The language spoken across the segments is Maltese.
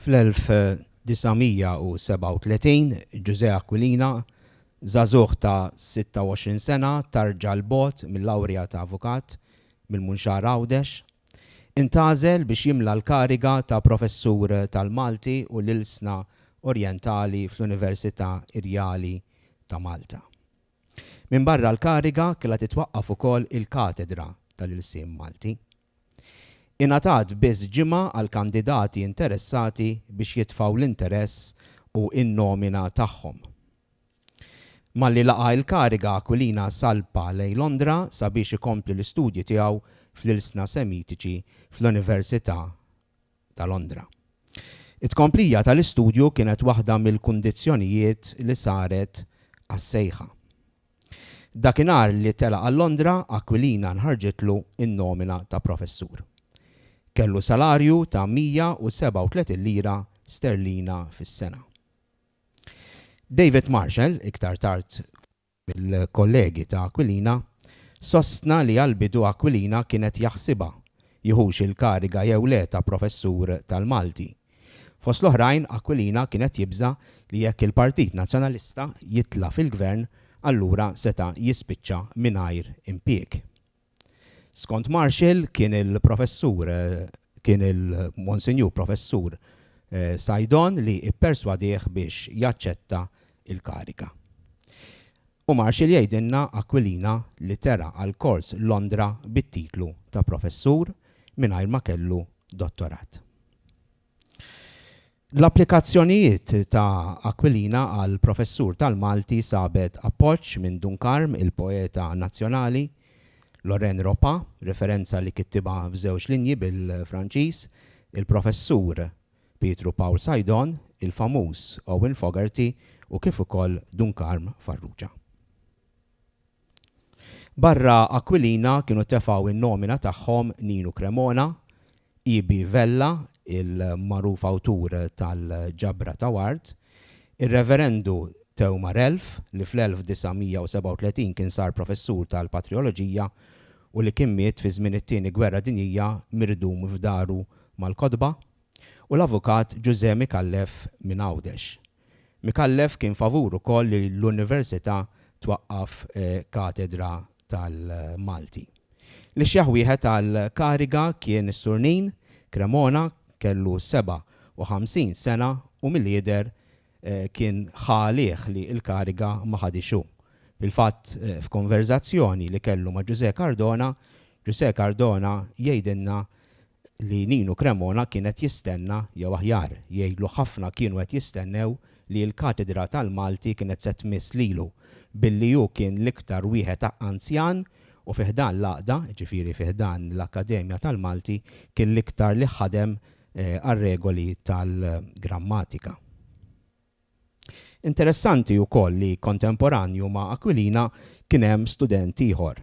Fl-1937, Ġużè Aquilina, żagħżugħ ta' 26 sena, tarġa 'l bogħod mil-lawrja ta' avukat mill-Munxar Għawdex, intgħażel biex jimla l-kariga ta' professur tal-Malti u l-Ilsna Orjentali fl-Università Irjali ta' Malta. Minbarra l-kariga, kellha titwaqqaf ukoll il-katedra tal-ilsien Malti. Ingħatat biss ġimgħa għall-kandidati interessati biex jitfgħu l-interess u n-nomina tagħhom. Malli laqa' il-kariga Aquilina salpa lejn Londra sabiex ikompli l-istudji tiegħu fl-ilsna Semitiċi fl-Università ta' Londra. It-tkomplija tal-istudju kienet waħda mill-kundizzjonijiet li saret għas-sejħa. Dakinhar li telaq għal Londra, Aquilina nħarġitlu n-nomina ta' professur. Kellu salarju ta' 137 lira sterlina fis-sena. David Marshall, iktar tard, mill-kollegi ta' Aquilina, sostna li għall-bidu Aquilina kien qed jaħsibha jieħux il-kariga jew le ta' professur tal-Malti. Fost l-oħrajn, Aquilina kien qed jibża' li jekk il-Partit Nazzjonalista jitla' fil-Gvern allura seta' jispiċċa mingħajr impieg. Skont Marshall kien il-Professur kien il-Monsinjur Professur Saidon li pperswadieh biex jaċċetta l-kariga. U Marshall jgħidilna Aquilina li tera għal kors Londra bit-titlu ta' Professur mingħajr ma kellu Dottorat. L-applikazzjonijiet ta' Aquilina għal professur tal-Malti sabet appoġġ minn Dun Karm, il-poeta nazzjonali, Lorraine Ropa, referenza li kittibha f'żewġ linji bil-Franċiż, il-professur Pietru Pawl Sajdon, il-famuż Owen Fogarty u kif ukoll Dun Karm Farrugia. Barra Aquilina kienu tefgħu in-nomina tagħhom Ninu Cremona, EB. Vella, il-magħruf awtur tal-Ġabra ta' Ward, ir-Reverendu Theo Marelf, li fl-1937 kien sar professur tal-Patrijoloġija u li kien miet fi żmien it-Tieni Gwerra Dinjija mirdum f'daru mal-kotba, u l-Avukat Ġużè Micallef minn Għawdex. Micallef kien favur ukoll li l-Università twaqqaf katedra tal-Malti. L-ixjaħ wieħed għall-kariga kien is-Surnin, Cremona, kellu 57 sena u mill-jidher kien ħa għalih li l-kariga ma ħadhiex hu. Fil-fatt f'konverżazzjoni li kellu ma' Ġużè Cardona, Ġużè Cardona jgħidilna li Ninu Cremona kien qed jistenna, jew aħjar, jgħidlu ħafna kienu qed jistennew li l-katedra tal-Malti kienet se tmiss lilu, billi hu kien l-iktar wieħed anzjan u fi ħdan l-għaqda, jiġifieri fi ħdan l-Akkademja tal-Malti, kien l-iktar li ħadem għar-regoli tal-grammatika. Interessanti wkoll li kontemporanju ma' Aquilina kien hemm student ieħor,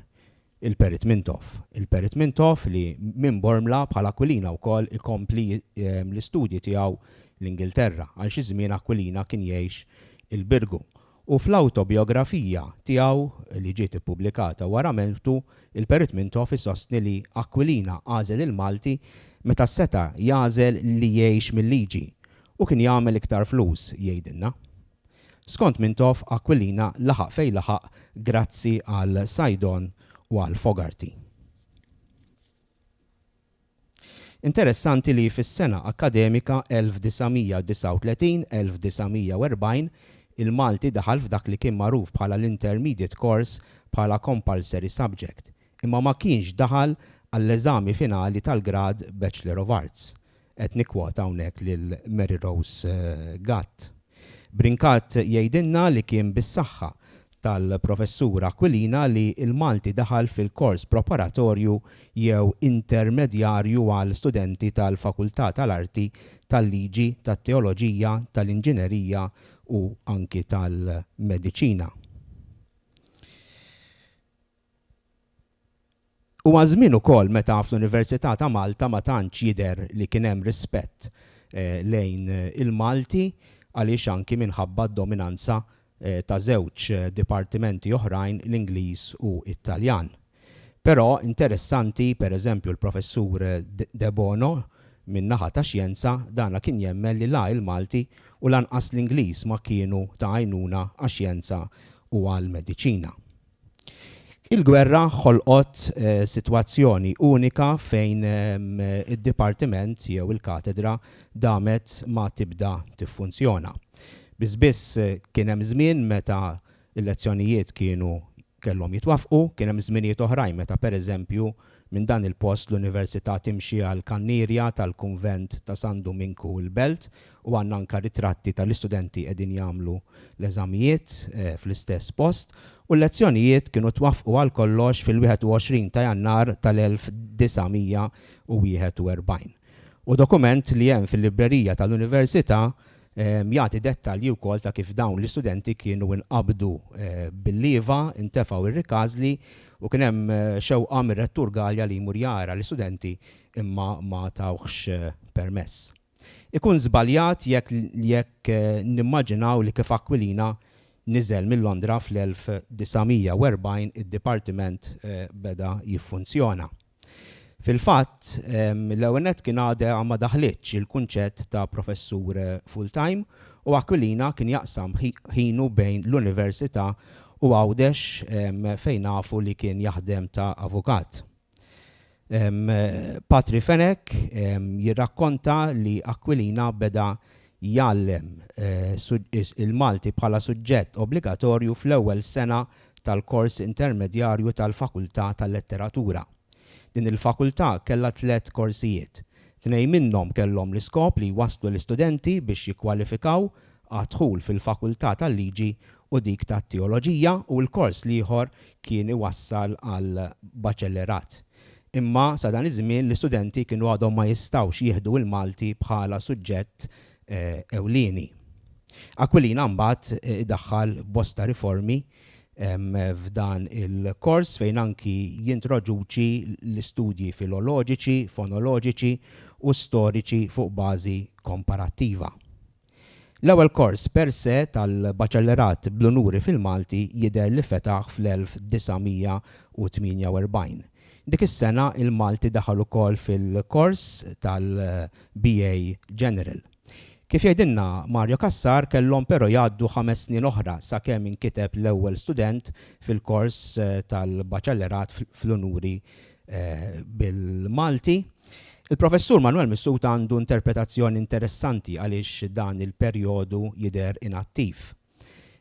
il-Perit Mintoff. Il-Perit Mintoff li minn Bormla bħal Aquilina wkoll ikompli l-istudji tiegħu l-Ingilterra. Għal xi żmien Aquilina kien jgħix il-Birgu. U fl-awtobijografija tiegħu li ġiet ippubblikata wara mewtu, il-Perit Mintoff isostni li Aquilina għażel il-Malti meta seta' jagħżel li jgħix mil-liġi U kien jagħmel iktar flus, jgħidilna. Skont Mintoff, Aquilina laħaq fejn laħaq grazzi għal Saidon u għal Fogarty. Interessanti li fis-sena akkademika 1939-1940 il-Malti daħal f'dak li kien magħruf bħala l-Intermediate Course bħala compulsory subject, imma ma kienx daħal għall-eżami finali tal-grad Bachelor of Arts, qed nikkwota hawnhekk lil Mary Rose Gatt. Brincat jgħidilna li kien bis-saħħa tal-Professur Aquilina li l-Malti daħal fil-kors preparatorju jew intermedjarju għal studenti tal-Fakultà tal-Arti, tal-Liġi, tat-Teoloġija, tal-Inġinerija u anki tal-Mediċina. Huwa żmien ukoll meta fl-Università ta' Malta ma tantx jidher li kien hemm rispett lejn il-Malti għaliex anki minħabba d-dominanza ta' żewġ dipartimenti oħrajn l-Ingliż u t-Taljan. Però interessanti per eżempju l-Professur Debono min-naħa ta' Xjenza dana kien jemmen li la il-Malti u lanqas l-Ingliż ma kienu ta' għajnuna għax-Xjenza u għall-Mediċina. Il-gwerra ħolqot sitwazzjoni unika fejn id-dipartiment jew il-katedra damet ma tibda tiffunzjona. Biss biss kien hemm żmien meta l-lezzjonijiet kienu kellhom jitwaffqu, kien hemm żminijiet oħrajn meta pereżempju Minn dan il-post l-Università timxi għal kannierja tal-Kunvent ta' San Duminku l-Belt u għandna anka ritratti tal-istudenti qegħdin jagħmlu l-eżamijiet fl-istess post u l-lezzjonijiet kienu twaffqu għal kollox fil-21 ta' Jannar tal-1941. U dokument li hemm fil-librerija tal-Università Jagħti dettalji wkoll ta' kif dawn l-istudenti kienu nqabdu bil-lieva, intefgħu r-rikażli u kien hemm xewqa mir-Rettur Galea li jmur jara l-istudenti imma ma tawhx permess. Ikun żbaljat jekk nimmaġinaw li kif Aquilina niżel minn Londra fl-1940 id-Dipartiment beda jiffunzjona. Fil-fatt, l-ewwel nett kien għadha ma daħlitx il-kunċett ta' professur full-time u Aquilina kien jaqsam ħinu bejn l-Università u Għawdex fejn nafu li kien jaħdem ta' avukat. Patri Fenech jirrakkonta li Aquilina beda jgħallem il-Malti bħala suġġett obbligatorju fl-ewwel sena tal-kors intermedjarju tal-Fakultà tal-Letteratura. Din il-Fakultà kellha tliet korsijiet. Tnejn minnhom kellhom l-iskop li jwasslu l-istudenti biex jikkwalifikaw għad-dħul fil-Fakultà tal-Liġi u dik tat-Teoloġija u l-kors l-ieħor kien iwassal għall-Baċellerat. Imma sa dan iż-żmien l-istudenti kienu għadhom ma jistgħux jieħdu l-Malti bħala suġġett ewlieni. Aquilina mbagħad idaħħal bosta riformi f'dan il-kors fejn anki jintroduċi l-istudji filoloġiċi, fonoloġiċi u storiċi fuq bażi komparattiva. L-ewwel kors per se tal-Baċellerat bl-Unuri fil-Malti jidher li fetaħ fl-1948. Dik is-sena il-Malti daħal ukoll fil-kors tal-BA General. Kif jgħidilna Mario Cassar kellhom però jgħaddu ħames snin oħra sakemm inkiteb l-ewwel student fil-kors tal-Baċellerat fl-Unuri bil-Malti. Il-Professur Manwel Missud għandu interpretazzjoni interessanti għaliex dan il-perjodu jidher inattiv.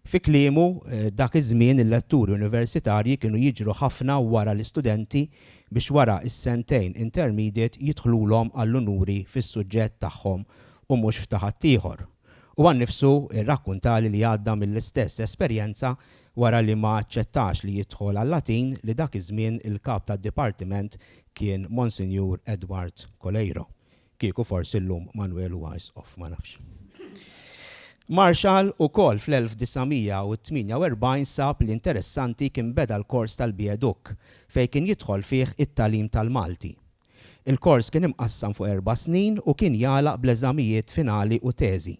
Fi kliemu, dak iż-żmien il-letturi universitarji kienu jiġru ħafna wara l-istudenti biex wara s-sentejn intermediate jidħlulhom għall-unuri fis-suġġett tagħhom u mhux f'ta' ħaddieħor. Huwa nnifsu rrakkuntali li għadda mill-istess esperjenza Wara li ma aċċettax li jidħol għal-Latin li dak iż-żmien il-Kap tad-Dipartiment kien Monsinjur Edward Coleiro, kieku forsi llum Manwel huwa Isqof, ma nafx. Marshall ukoll fl-1948 sab li interessanti kien beda l-kors tal-BA Duc, fejn kien jidħol fih it-tagħlim tal-Malti. Il-kors kien imqassam fuq erba' snin u kien jagħlaq bl-eżamijiet finali u teżi.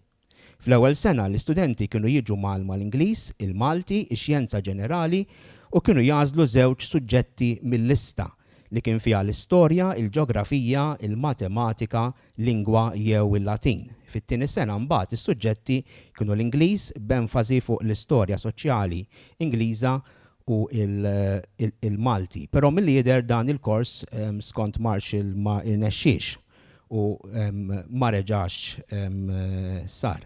Fl-ewwel sena, l-istudenti kienu jiġu mgħallma l-Ingliż, il-Malti, ix-Xjenza Ġenerali u kienu jagħżlu żewġ suġġetti mil-lista, li kien fiha l-Istorja, il-Ġeografija, il-Matematika, Lingwa jew il-Latin. Fit-tieni sena mbagħad is-suġġetti kienu l-Ingliż b'enfasi fuq l-Istorja Soċjali Ingliża u l-Malti. Però milli jidher dan il-kors skont Marshall ma rnexxiex. u ma reġax sar.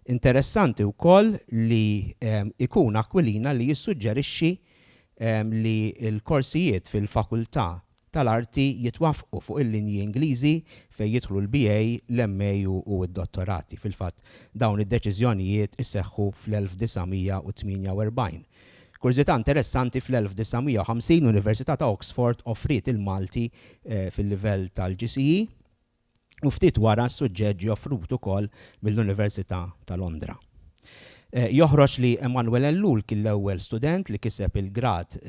Interessanti wkoll li jkun Aquilina li jissuġġerixxi li l-korsijiet fil-Fakultà tal-Arti jitwaffqu fuq il-linji Ingliżi fejn jidħlu l-BA, l-MA u d-Dottorati. Fil-fatt, dawn id-deċiżjonijiet iseħħu fl-1948. Kurżità interessanti, fl-1950 l-Università ta' Oxford offriet il-Malti fil-livell tal-GCE u ftit wara s-suġġett ġie offrut ukoll mill-Università ta' Londra. Joħroġ li Emmanuel Ellul kien l-ewwel student li kiseb il-grad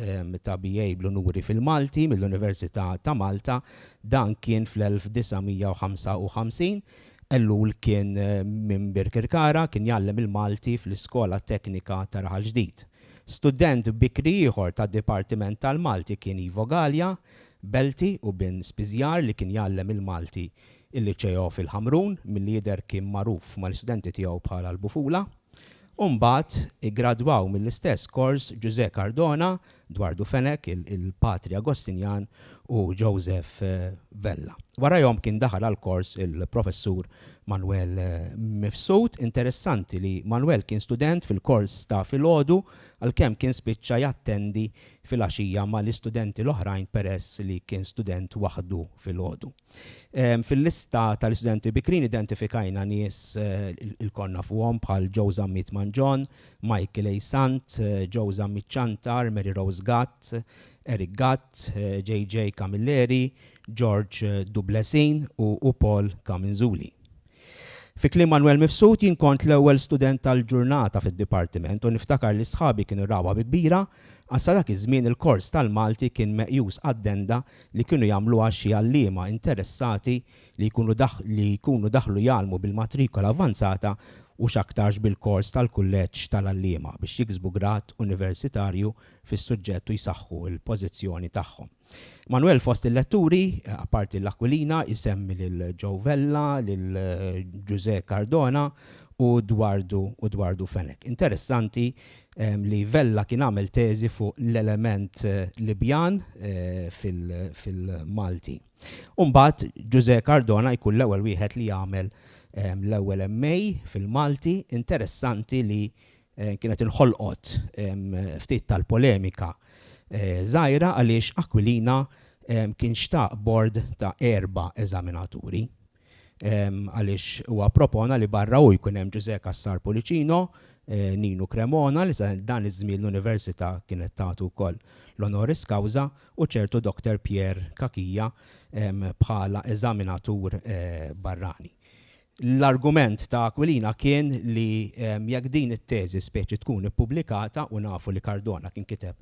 ta' BA bl-unuri fil-Malti mill-Università ta' Malta, dan kien fl-1955, Ellul kien minn Birkirkara, kien jgħallem il-Malti fl-Iskola Teknika ta' Raħal Ġdid. Student bikri ieħor tad-Dipartiment tal-Malti kien Ivo Galea, Belti u bin Spiżjar li kien jgħallem il-Malti il-Liceo fil-Ħamrun, milli jidher kien magħruf mal-istudenti tiegħu bħala l-Bufula. u mbagħad iggradwaw mill-istess kors Ġużè Cardona, Dwardu Fenech, il-Patri Agostinjan u Joseph Vella. Warajhom kien daħal għall-kors il-Professur Manwel Mifsud. Interessanti li Manwel kien student fil-kors ta' filgħodu għalkemm kien spiċċa jattendi fil-għaxija mal-istudenti l-oħrajn peress li kien student waħdu filgħodu. Fil-lista tal-istudenti bikrin identifikajna nies il-konna fuqhom bħal Joe Zammit Manġon, Michael A. Sant, Joe Zammit Ċantar, Mary Rose Gatt, Eric Gatt, JJ Camilleri, George Dublesin u Paul Camenzuli. Fi kliem Manwel Mifsud, jien kont l-ewwel student tal-ġurnata fid-dipartiment u niftakar li sħabi kienu rawha bi kbira għax sa dak iż-żmien il-kors tal-Malti kien meqjus addenda li kienu jagħmluha xi għalliema interessati li jkunu li jkunu daħlu jgħallmu bil-matrikola avvanzata u x'aktarx bil-kors tal-kulleġġ tal-għalliema biex jiksbu grad universitarju fis-suġġett u jsaħħu l-pożizzjoni tagħhom. Manwel fost il-letturi, apparti l-Aquilina, isemmi lil Joe Vella, lil Ġużè Cardona u Dwardu u Dwardu Fenech. Interessanti li Vella kien għamel teżi fuq l-element Libjan fil-Malti. U mbagħad Ġużè Cardona jkun l-ewwel wieħed li jagħmel l-ewwel MA fil-Malti. Interessanti li kienet inħolqot ftit tal-polemika żgħira għaliex Aquilina kien xtaq bord ta' erba' eżaminaturi għaliex huwa ppropona li barra hu jkun hemm Ġużè Cassar Pullicino, Ninu Cremona li sa dan iż-żmien l-Università kienet tagħtu wkoll l-honoris causa u ċertu Doctor Pierre Cachia bħala eżaminatur barrani. L-argument ta' Aquilina kien li jekk din it-teżi speċi tkun ippubblikata, u nafu li Cardona kien kiteb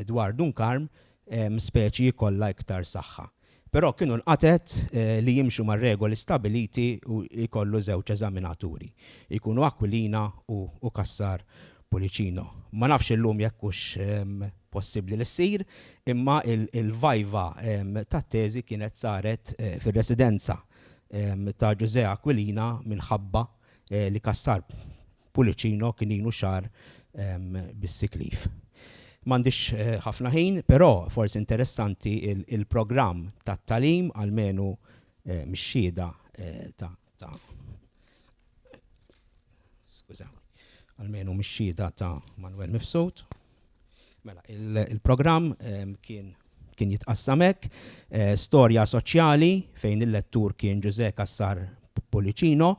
dwar Dun Karm, speċi jkollha iktar saħħa. Però kienu nqatgħet li jimxu mar-regoli stabiliti u jkollu żewġ eżaminaturi, jkunu Aquilina u Cassar Pullicino. Ma nafx illum jekk hux possibbli li ssir, imma l-vajva tat-teżi kienet saret fir-residenza ta' Ġużè Aquilina minħabba li Cassar Pullicino kien ilu xahar bis-sick leave. M'għandix ħafna ħin, però forsi interessanti l-programm tat-tagħlim, almenu mix-xhieda ta' skużawni, almenu mix-xhieda ta' Manwel Mifsud. Mela, il-programm kien kien jitqassam hekk, storja soċjali fejn il-lettur kien Ġużè Cassar Pullicino.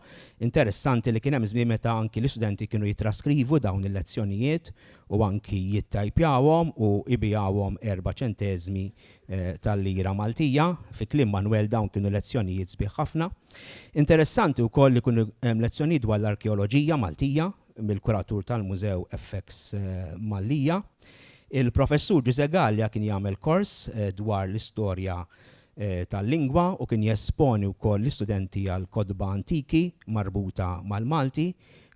Interessanti li kien hemm żmien meta anki l-istudenti kienu jitraskrivu dawn il-lezzjonijiet u anki jittajpjawhom u jbigħuhom erba' ċenteżmi tal-lira Maltija. Fi kliem Manwel dawn kienu lezzjonijiet sbieħ ħafna. Interessanti wkoll li kienu hemm lezzjonijiet dwar l-arkeoloġija Maltija mill-kuratur tal-Mużew FX Mallia. Il-Professur Ġużè Galea kien jagħmel kors dwar l-istorja tal-lingwa u kien jesponi wkoll l-istudenti għal kotba antiki marbuta mal-Malti.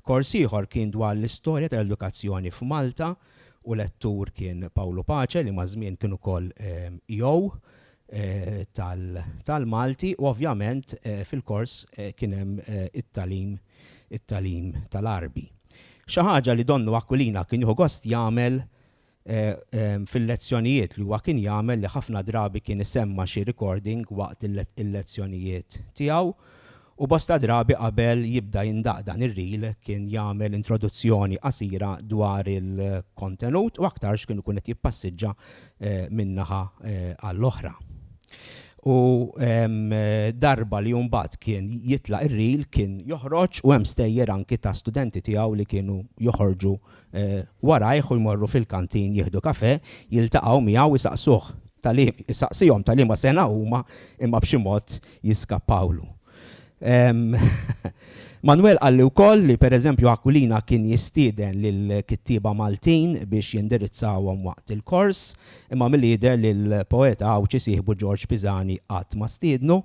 Kors ieħor kien dwar l-istorja tal-edukazzjoni f'Malta u lettur kien Pawlu Pace li maż-żmien kien ukoll EO tal-Malti u ovvjament fil-kors kien hemm it-tagħlim it-tagħlim tal-Għarbi. Xi ħaġa li donnu Aquilina kien jieħu gost jagħmel fil-lezzjonijiet li huwa kien jagħmel li ħafna drabi kien isemma' xi recording waqt il-lezzjonijiet tiegħu u bosta drabi qabel jibda jindaqq dan ir-reel kien jagħmel introduzzjoni qasira dwar il-kontenut u aktarx kien ikun qed jippassiġġa minn naħa għall-oħra. U darba li mbagħad kien jitlaq ir-reel kien joħroġ u hemm stejjer anki ta' studenti tiegħu li kienu joħorġu warajh u jmorru fil-kantin jieħdu kafè, jiltaqgħu miegħu u jsaqsuh ta' li, jsaqsihom ta' liema sena huma imma b'xi mod jiskappawlu. Manwel qalli wkoll li pereżempju Aquilina kien jistieden lill-kittieba Maltin biex jindirizzawhom waqt il-kors, imma milli jidher li l-poeta Għawdxi sieħbu Ġorġ Pisani qatt ma stiednu,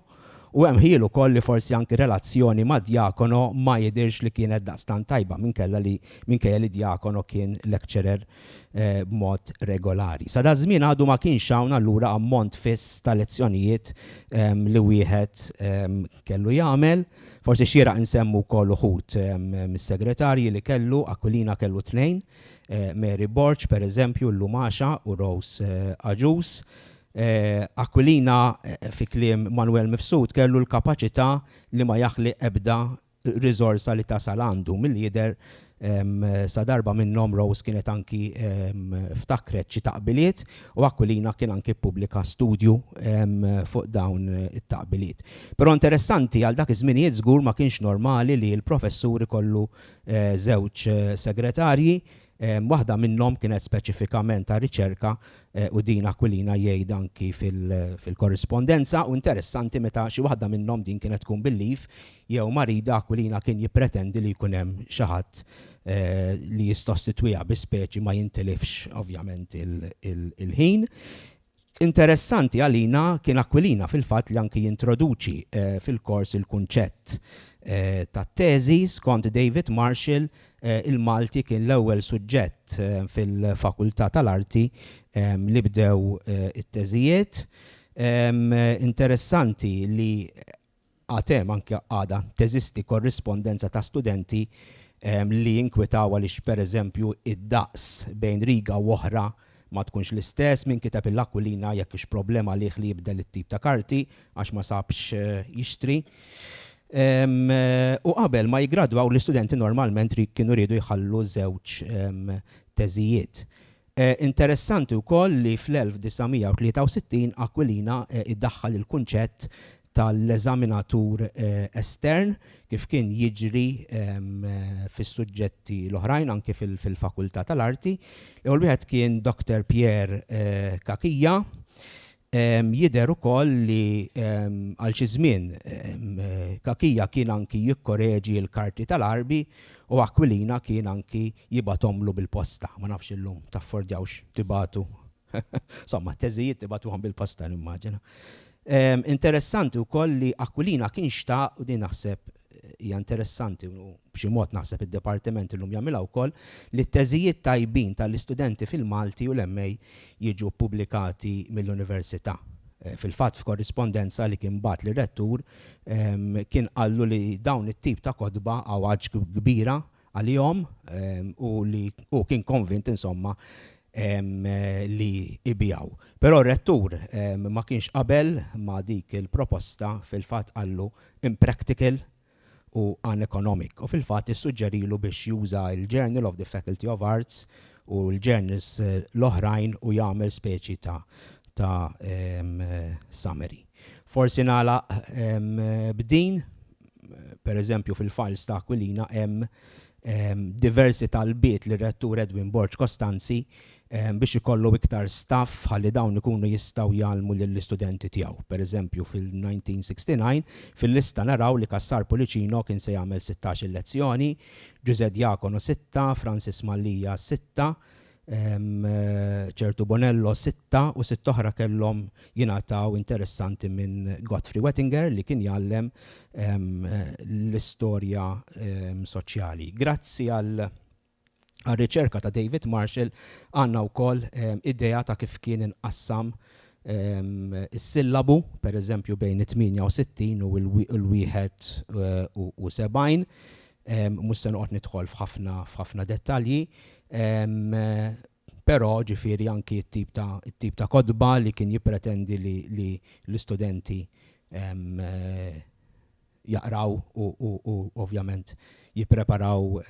u hemm ħjiel ukoll li forsi anki relazzjoni ma' Djakono ma jidhirx li kienet daqstant tajba minkella li minkejja li Djakono kien lecturer b'mod regolari. Sadaż-żmien għadu ma kienx hawn allura ammont fiss ta' lezzjonijiet li wieħed kellu jagħmel. Forsi xieraq insemmu wkoll uħud mis-segretarji li kellu, Aquilina kellu tnejn, Mary Borg, pereżempju, llum għaxa, u Rose għaġuż. Aquilina, fi kliem Manwel Mifsud, kellu l-kapaċità li ma jaħli ebda riżorsa li tasal għandu. Milli jidher sadarba minnhom Rose kienet anki ftakret xi taqbiliet u Aquilina kien anki ppubblika studju fuq dawn it-taqbiliet. Però interessanti, għal dak iż-żminijiet żgur ma kienx normali li l-professur ikollu żewġ segretarji, Waħda minnhom kienet speċifikament ta' riċerka u din Aquilina jgħid anki fil-korrispondenza u interessanti meta xi waħda minnhom din kienet tkun bil-leave jew marida Aquilina kien jippretendi li jkun hemm xi ħadd li jissostitwiha bi speċi ma jintilifx ovvjament il-ħin. Interessanti għalina kien Aquilina fil-fatt li anki jintroduċi fil-kors il-kunċett tat-teżi, skont David Marshall, il-Malti kien l-ewwel suġġett fil-Fakultà tal-Arti li bdew it-teżijiet. Interessanti li Għad hemm, anke għadha teżisti, korrispondenza ta' studenti li jinkwetaw għaliex, pereżempju, id-daqs bejn riga u oħra ma tkunx l-istess, min kiteb il-Aquilina jekk hux problema għalih li jibdel it-tip ta' karti għax ma sab x' jixtri. U qabel ma jiggradwaw l-istudenti normalment kienu riedu jħallu żewġ teżijiet. Interessanti wkoll li fl-1963 Aquilina idaħħal il-kunċett tal-eżaminatur estern, kif kien jiġri fis-suġġetti l-oħrajn anki fil-Fakultà tal-Arti. L-ewwel wieħed kien Doctor Pierre Cachia, Jidher ukoll li għal xi żmien Cachia kien anki jikkoreġi l-karti tal-Għarbi u Aquilina kien anki jibgħathomlu bil-posta. Ma nafx illum taffordjawx tibagħtu somma t-teżijiet tibagħtuhom bil-posta nimmaġina. Interessanti wkoll li Aquilina kien xtaq, u din naħseb Hija interessanti, u b'xi mod naħseb id-Dipartiment illum jagħmilha wkoll, li t-teżijiet tajbin tal-istudenti fil-Malti u l-MA jiġu ppubblikati mill-Università. Fil-fatt f'korrispondenza li kien bagħat lir-Rettur kien qallu li dawn it-tip ta' kotba, għawġ kbira, għalihom u li hu kien konvint insomma li jbigħu. Però r-Rettur ma kienx qabel ma' dik il-proposta fil-fatt qallu impractical u uneconomic u fil-fatt issuġġerilu biex juża l-Journal of the Faculty of Arts u l-journals l-oħrajn u jagħmel speċi ta' summary. Forsi nagħlaq b'din per eżempju fil-files ta' Aquilina hemm diversi talbiet li rettur Edwin Borg Costanzi biex ikollu iktar staff ħalli dawn ikunu jistgħu jgħallmu lill-istudenti tiegħu. Per eżempju fil-1969 fil-lista naraw li Cassar Pulicino kien se jagħmel 16 il-lezzjoni, Ġużè Diacono sitta, Francis Mallia sitta, ċertu Bonello sitta u sitt oħra kellhom jingħataw interessanti minn Godfrey Wettinger li kien jgħallem l-istorja soċjali. Grazzi għal għal-riċerka ta' David Marshall għanna u koll ehm, idea ta' kif kien inqassam ehm, is-sillabu, per eżempju bejn 68 u l-71 eh, Mhux se noqgħod nidħol f'ħafna f'ħafna dettalji, però ġifieri anki t-tip ta' t-tip ta' kotba li kien jippretendi li li l-istudenti jaqraw u u u ovvjament jippreparaw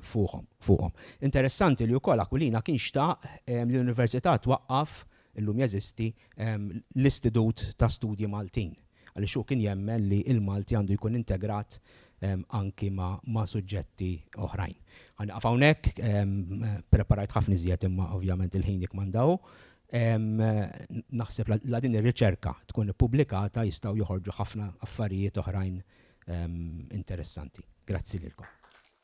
fuħhom fuqhom. Interessanti li wkoll Aquilina kien xtaq li l-Università twaqqaf, illum jeżisti, l-Istitut ta' Studji Maltin. għaliex hu kien jemmen li l-Malti għandu jkun integrat anki ma' suġġetti oħrajn. Ħa nieqaf hawnhekk, ppreparajt ħafna iżjed imma ovvjament il-ħin jikkmanda hu. Naħseb la din ir-riċerka tkun ippubblikata jistgħu joħorġu ħafna affarijiet oħrajn interessanti. Grazzi lilkom.